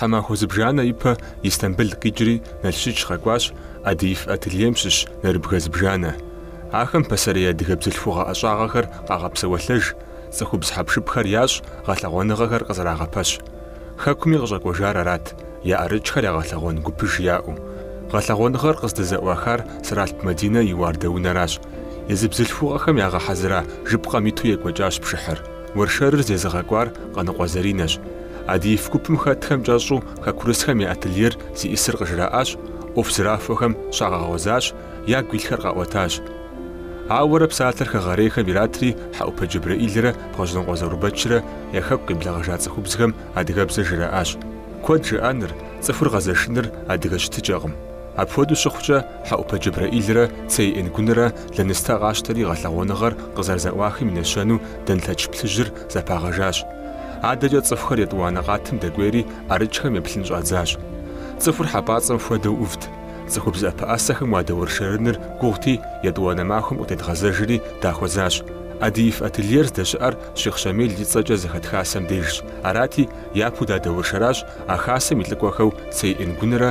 Тхьэмахуэ зыбжанэ ипэ Истамбыл къикӏри Налшыч къэкӏуащ, Адыиф ательем щыщ нэрыбгэ зыбжанэ. Ахэм пасэрей адыгэ бзылъхугъэ ӏэщӏагъэхэр къагъэпсэуэлъэж, цӏыхубз хьэпшыпхэр ящӏ, гъэлъэгъуэныгъэхэр къызэрагъэпэщ. Хэкуми къыщӏэкӏуэжар арат, я ӏэрыкӏхэр ягъэлъэгъуэн гупыж яӏэу. Гъэлъэгъуэныгъэр къыздызэӏуахар Сэралъп Мадинэ и уардэунэращ. Езы бзылъхугъэхэм ягъэхьэзыра жыпкъэм иту екӏуэкӏащ пшыхьыр. Уэршэрыр зезыгъэкӏуар Къаныкъуэ Заринэщ. Адыиф гупым хэтхэм кӏэщӏу хэкурысхэм я ательер зиӏысыр къыжраӏащ, ӏуэху зэрахуэхэм щагъэгъуэзащ, ягу илъхэр къаӏуэтащ. Ауэрэ псалъэр хэгъэрейхэм иратри Хьэӏупэ Джэбрэӏилрэ Бгъэжьнокъуэ Заурбэчрэ я хэку къиблэгъэжа цӏыхубзхэм адыгэбзэр жраӏащ. Куэд жыӏэныр, цӏыхур гъэзэшыныр адыгэ щытыкӏэкъым. Апхуэдэу щыхъукӏэ, Хьэӏупэ Джэбрэӏилрэ Цей Энгунрэ лэныстэ къащтэри гъэлъэгъуэныгъэр къызэрызэӏуахым и нэщэнэу дэнлъэч плъыжьыр зэпагъэжащ. Адэкӏэ цӏыхухэр етӏуанэ къатым дэкӏуейри ӏэрыкӏхэм еплъын щӏадзащ. Цӏыхур хьэпӏацӏэм хуэдэу ӏувт. Цӏыхубз ӏэпэӏэсэхэм уадэуэршэрыныр гугъути, етӏуанэ махуэм къытедгъэзэжри дахуэзащ. Адыиф ательер здэщыӏэр Щихъ Щамил и цӏэкӏэ зэхэт хасэм дежщ. Арати, япэу дадэуэршэращ а хасэм и лӏыкӏуэхэу Цей Энгунрэ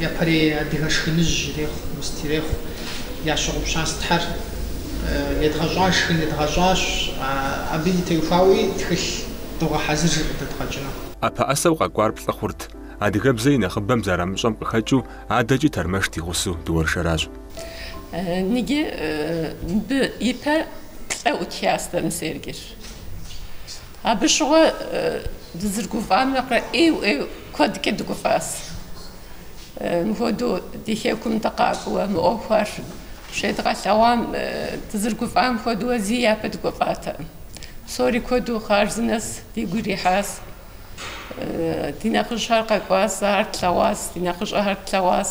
Япэрей адыгэ шхыныжь ирехъу, мыст ирехъу. Ящыгъупщащ Тхьэр. Едгъэщӏа шхын едгъэщӏащ. Абы и теухуауи тхылъ догъэхьэзыр къыдэдгъэкӏыну. ӏэпэӏэсэу къэкӏуар плӏы хъурт, адыгэбзэ и нэхъыбэм зэрамыщӏэм къыхэкӏыу адэкӏи тэрмэш дигъусу дыуэршэращ. Ныги мыбы ипэ плӏэ утяс дэмысейр гиш. Абы щыгъуэ дызыргуфӏам нэхърэ ӏейуэ-ӏейуэ куэдкӏэ дыгуфӏащ. Мыхуэдэу ди хэкум дыкъакӏуэ мы ӏуэхухэр щедгъэлъэгъуам, дызыргуфӏам хуэдэуэ зи япэ дыгуфӏатэкъым. Псори куэду хъарзынэщ дигу ирихьащ. Ди нэхъыжьхэр къэкӏуащ, ахэр тлъэгъуащ, ди нэхъыщӏэхэр тлъэгъуащ.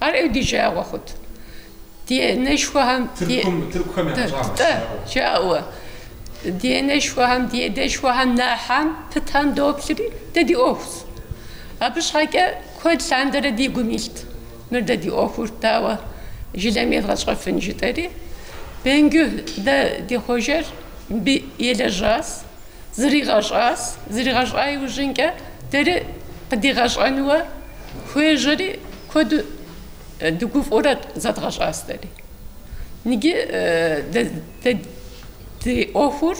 Ар ӏейуэ ди жагъуэ хъут. Ди анэшхуэхэм, ди. Тыркухэм я пщӏагъ щыжаӏэу. Жаӏэуэ. Ди анэшхуэхэм, ди адэшхуэхэм нэхьэм пытам доплъри, дэ ди ӏуэхущ. Абы щхьэкӏэ куэд лъандэрэ ди гум илът, мыр дэ ди ӏуэхур дауэ жылэми едгъэщӏэфын жытӏэри. Бенгю дэ ди хъуэжэр мыбы елэжьащ. Зригъэщӏащ, зригъэщӏа иужьынкӏэ дэри къыдигъэщӏэнуэ хуежьэри, куэду дыгуфӏурэ зэдгъэщӏащ дэри. Иджы дэ ди ӏуэхур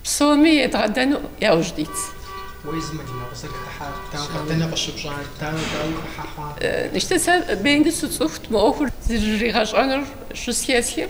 псоми едгъэдэну яужь дитщ. Уэ езы мы дыным узэрыхыхьар дауэ, дэнэ къыщыпщӏар, дауэ, дауи хыхьэ хъуа? Иштэ, сэ Бенгю сцӏыхут мы ӏуэхур зригъэщӏэнур щызэхэсхым.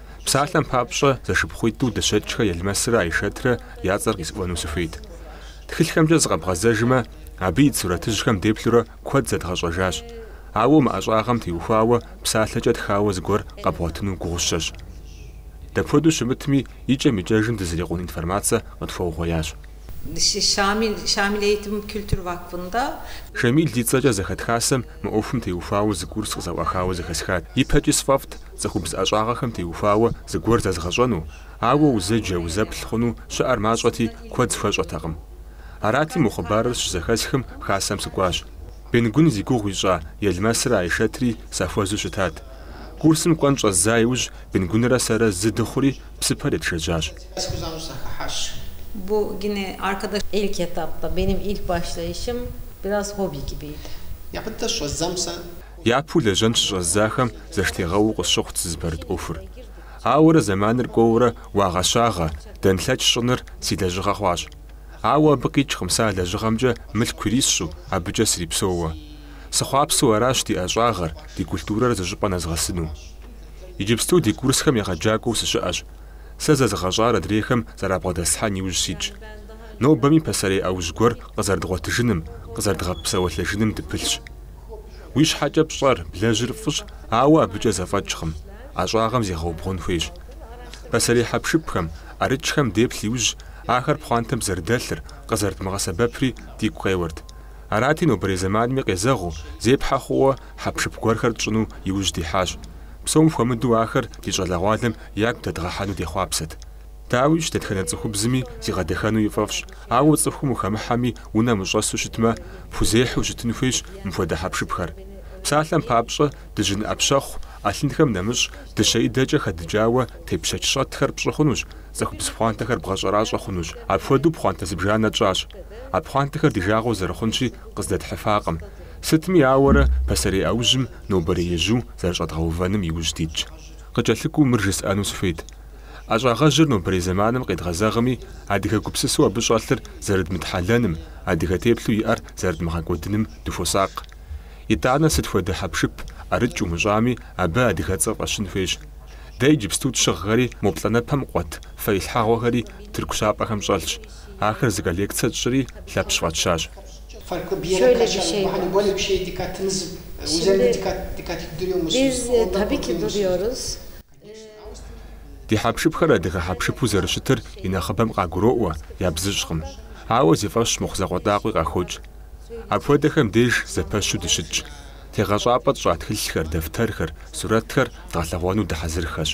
Псалъэм папщӏэ, зэшыпхъуитӏу Дыщэкӏхэ Елмэсрэ Айшэтрэ я цӏэр къисӏуэну сыхуейт. Тхылъхэмкӏэ зыкъэбгъэзэжмэ, абы ит сурэтыжьхэм деплъурэ куэд зэдгъэщӏэжащ. Ауэ мы ӏэщӏагъэм теухуауэ псалъэкӏэ тхауэ зыгуэр къэбгъуэтыну гугъущэщ. Дапхуэдэу щымытми, икӏэм-икӏэжым дызрикъун информацэ къытхуэугъуеящ. Шамил и цӏэкӏэ зэхэт хасэм мы ӏуэхум теухуауэ зы курс къызэӏуахауэ зэхэсхат. Ипэкӏи сфӏэфӏт, Цӏыхубз ӏэщӏагъэхэм теухуауэ зыгуэр зэзгъэщӏэну, ауэ узэджэ, узэплъ хъуну щыӏэр мащӏэти, куэд схуэщӏэтэкъым. Арати, мо хъыбарыр щызэхэсхым, Хасэм сыкӏуащ. Бенгун зи гугъу ищӏа Елмэсрэ Айшэтри сахуэзу щытат. Курсым кӏуэн щӏэздза иужь, Бенгунрэ сэрэ зы дыхъури, псыпэр етшэжьащ. Япэу лэжьэн щыщӏэздзахэм зэштегъэуэу къысщыхъут сызыпэрыт ӏуэхур. Ауэрэ зэманыр кӏуэурэ уагъэщагъэ, дэнлъэч щӏыныр си лэжьыгъэ хъуащ. Ауэ абы къикӏкъым сэ а лэжьыгъэмкӏэ мылъку ирисщӏу, абыкӏэ срипсэууэ. Сыхъуапсэу аращ ди ӏэщӏагъэр, ди культурэр зыщӏыпӏэ нэзгъэсыну. Иджыпсту ди курсхэм егъэджакӏуэу сыщыӏэщ. Сэ зэзыгъэщӏар адрейхэм зэрабгъэдэслъхьэн иужь ситщ. Нобэми пасэрей ӏэужь гуэр къызэрыдгъуэтыжыным, къызэрыдгъэпсэуэлъэжыным дыпылъщ. Уи щхьэкӏэ пщӏэр, блэжьыр фӏыщ, ауэ абыкӏэ зэфӏэкӏкъым, ӏэщӏагъэм зегъэубгъун хуейщ. Пасэрей хьэпшыпхэм, ӏэрыкӏхэм деплъ иужь, ахэр пхъуантэм зэрыдэлъыр, къызэрыдмыгъэсэбэпри дигу къеуэрт. Арати, нобэрей зэманми къезэгъыу, зепхьэ хъууэ хьэпшып гуэрхэр тщӏыну иужь дихьащ. Псом хуэмыдэу ахэр ди щӏалэгъуалэм ягу дэдгъэхьэну дехъуапсэт. Дауищ, дэтхэнэ цӏыхубзми зигъэдэхэну и фӏэфӏщ, ауэ цӏыхум ухэмыхьэми, унэм ущӏэсу щытмэ, пхузехьу щытын хуейщ мыпхуэдэ хьэпшыпхэр. Псалъэм папщӏэ, дыжьын ӏэпщэхъу ӏэлъынхэм нэмыщӏ, дыщэидэкӏэ хэдыкӏауэ тепщэч щӏэтхэр пщӏы хъунущ, цӏыхубз пхъуантэхэр бгъэщӏэращӏэ хъунущ. Апхуэдэу пхъуантэ зыбжанэ тщӏащ. А пхъуантэхэр ди жагъуэу зэрыхъунщи, къыздэтхьыфакъым. Сытми ауэрэ, пасэрей ӏэужьым нобэрей ежьу зэрыщӏэдгъэувэным иужь дитщ. Къыкӏэлъыкӏуэу мыр жысӏэну сыхуейт. ӏэщӏагъэжьыр нобэрей зэманым къедгъэзэгъми, адыгэ гупсысэу абы щӏэлъыр зэрыдмытхьэлэным, адыгэ теплъэу иӏэр зэрыдмыгъэкӏуэдыным дыхуосакъ. Итӏанэ сыт хуэдэ хьэпшып, ӏэрыкӏ умыщӏами, абы адыгэцӏэ фӏэщын хуейщ. Дэ иджыпсту тщыгъхэри мо плӏанэпэм къуэт фэилъхьэгъуэхэри тырку щапӏэхэм щӏэлъщ. Ахэр зы коллекцэ тщӏри Лъэпщ фӏэтщащ. Ди хьэпшыпхэр адыгэ хьэпшыпу зэрыщытыр и нэхъыбэм къагуроӏуэ, ябзыщӏкъым, ауэ зи фӏэщ мыхъу закъуэтӏакъуи къахокӏ. Апхуэдэхэм деж зэпэщу дыщытщ. Тегъэщӏапӏэ тщӏа тхылъхэр, дэфтэрхэр, сурэтхэр дгъэлъэгъуэну дыхьэзырхэщ.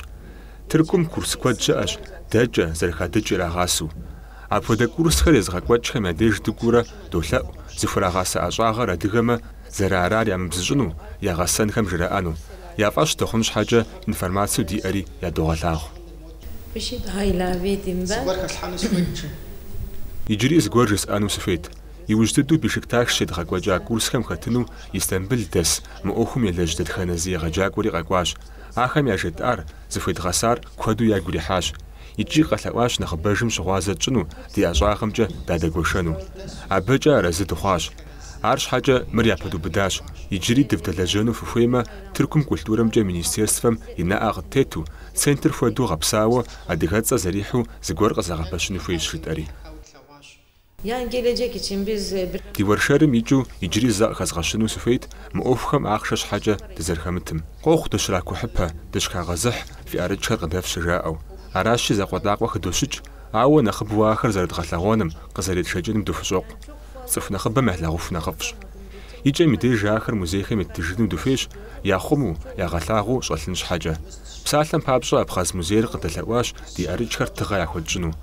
Тыркум курс куэд щыӏэщ, дэкӏэ, зэрыхадыкӏ ирагъасэу. Апхуэдэ курсхэр езыгъэкӏуэкӏхэм я деж дыкӏуурэ долъэӏу, зыхурагъасэ ӏэщӏагъэр адыгэмэ, Зэрыарар ямыбзыщӏыну, я гъэсэнхэм жраӏэну. Я фӏэщ дыхъун щхьэкӏэ информацэу диӏэри ядогъэлъагъу. Bir şey daha ilave edeyim ben. Иджыри зыгуэр жысӏэну сыхуейт. Иужь дыдэу Бешикташ щедгъэкӏуэкӏа курсхэм хэтыну Истамбыл дэс, мы ӏуэхум елэжь дэтхэнэ зы егъэджакӏуэри къэкӏуащ. Ахэм яжетӏар, зыхуедгъэсар куэду ягу ирихьащ. Икӏи къэлъэӏуащ нэхъыбэжым щыгъуазэ тщӏыну, ди ӏэщӏагъэмкӏэ дадэгуэшэну. Абыкӏэ арэзы дыхъуащ. Арщхьэкӏэ мыр япэдубыдащ, иджыри дывдэлэжьэну фыхуеймэ, Тыркум культурэмкӏэ министерствэм и нэӏэ къыттету, центр хуэдэу гъэпсауэ, адыгэцӏэ зэрихьу зыгуэр къызэгъэпэщыну хуейщ, жытӏэри. Ди уэршэрым икӏыу иджыри зэ къыхэзгъэщыну сыхуейт мы ӏуэхухэм ахъшэ щхьэкӏэ дызэрыхэмытым. Къохъу дыщракухьыпэ, дыщхагъэзыхь фи ӏэрыкӏхэр къыдэфщэ жаӏэу. Аращи, закъуэтӏакъуэ хыдощыкӏ, ауэ нэхъыбэу ахэр зэрыдгъэлъэгъуэным, къызэретшэкӏыным дыхущӏокъу. Цӏыху нэхъыбэм ялъагъуху нэхъыфӏщ. И кӏэм и деж ахэр музейхэм еттыжыну дыхуейщ, яхъуму, ягъэлъагъуу щӏэлъын щхьэкӏэ. Псалъэм папщӏэ, Абхъаз музейр къыдэлъэӏуащ ди ӏэрыкӏхэр тыгъэ яхуэтщӏыну.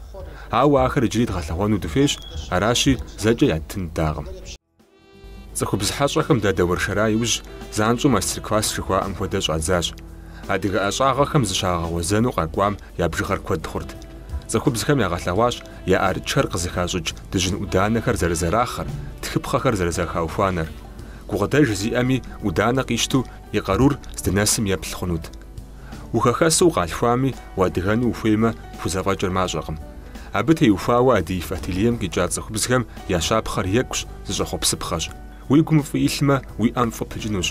Ауэ ахэр иджыри дгъэлъэгъуэну дыхуейщ, аращи, зэкӏэ яттын ддакъым. Цӏыхубз хьэщӏэхэм дадэуэршэра иужь занщӏэу мастер-класс жыхуаӏэм хуэдэ щӏадзащ. Адыгэ ӏэщӏагъэхэм зыщагъэгъуэзэну къэкӏуам я бжыгъэр куэд хъурт. Цӏыхубзхэм ягъэлъэгъуащ я ӏэрыкӏхэр къызыхащӏыкӏ дыжьын ӏуданэхэр зэрызэрахъэр, тхыпхъэхэр зэрызэхаухуанэр. Гукъыдэж зиӏэми ӏуданэ къищту и къарур здынэсым еплъ хъунут. Ухэхэсу укъалъхуами, уадыгэну ухуеймэ, пхузэфӏэкӏыр мащӏэкъым. Абы теухуауэ Адыиф ательем къикӏа цӏыхубзхэм я щапхъэр екӏущ, зыщӏэхъуэпсыпхъэщ. Уи гум фӏы илъмэ, уи ӏэм фӏы пыкӏынущ.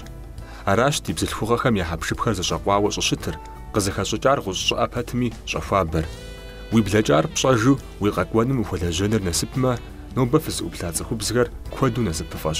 Аращ ди бзылъхугъэхэм я хьэпшыпхэр зэщӏэкъуауэ щӏыщытыр, къызыхэщӏыкӏар гъущӏ щӏыӏэ пэтми щӏэхуабэр. Уи блэкӏар пщӏэжу уи къэкӏуэнум ухуэлэжьэныр насыпмэ, нобэ фызыӏуплъа цӏыхубзхэр куэду насыпыфӏэщ.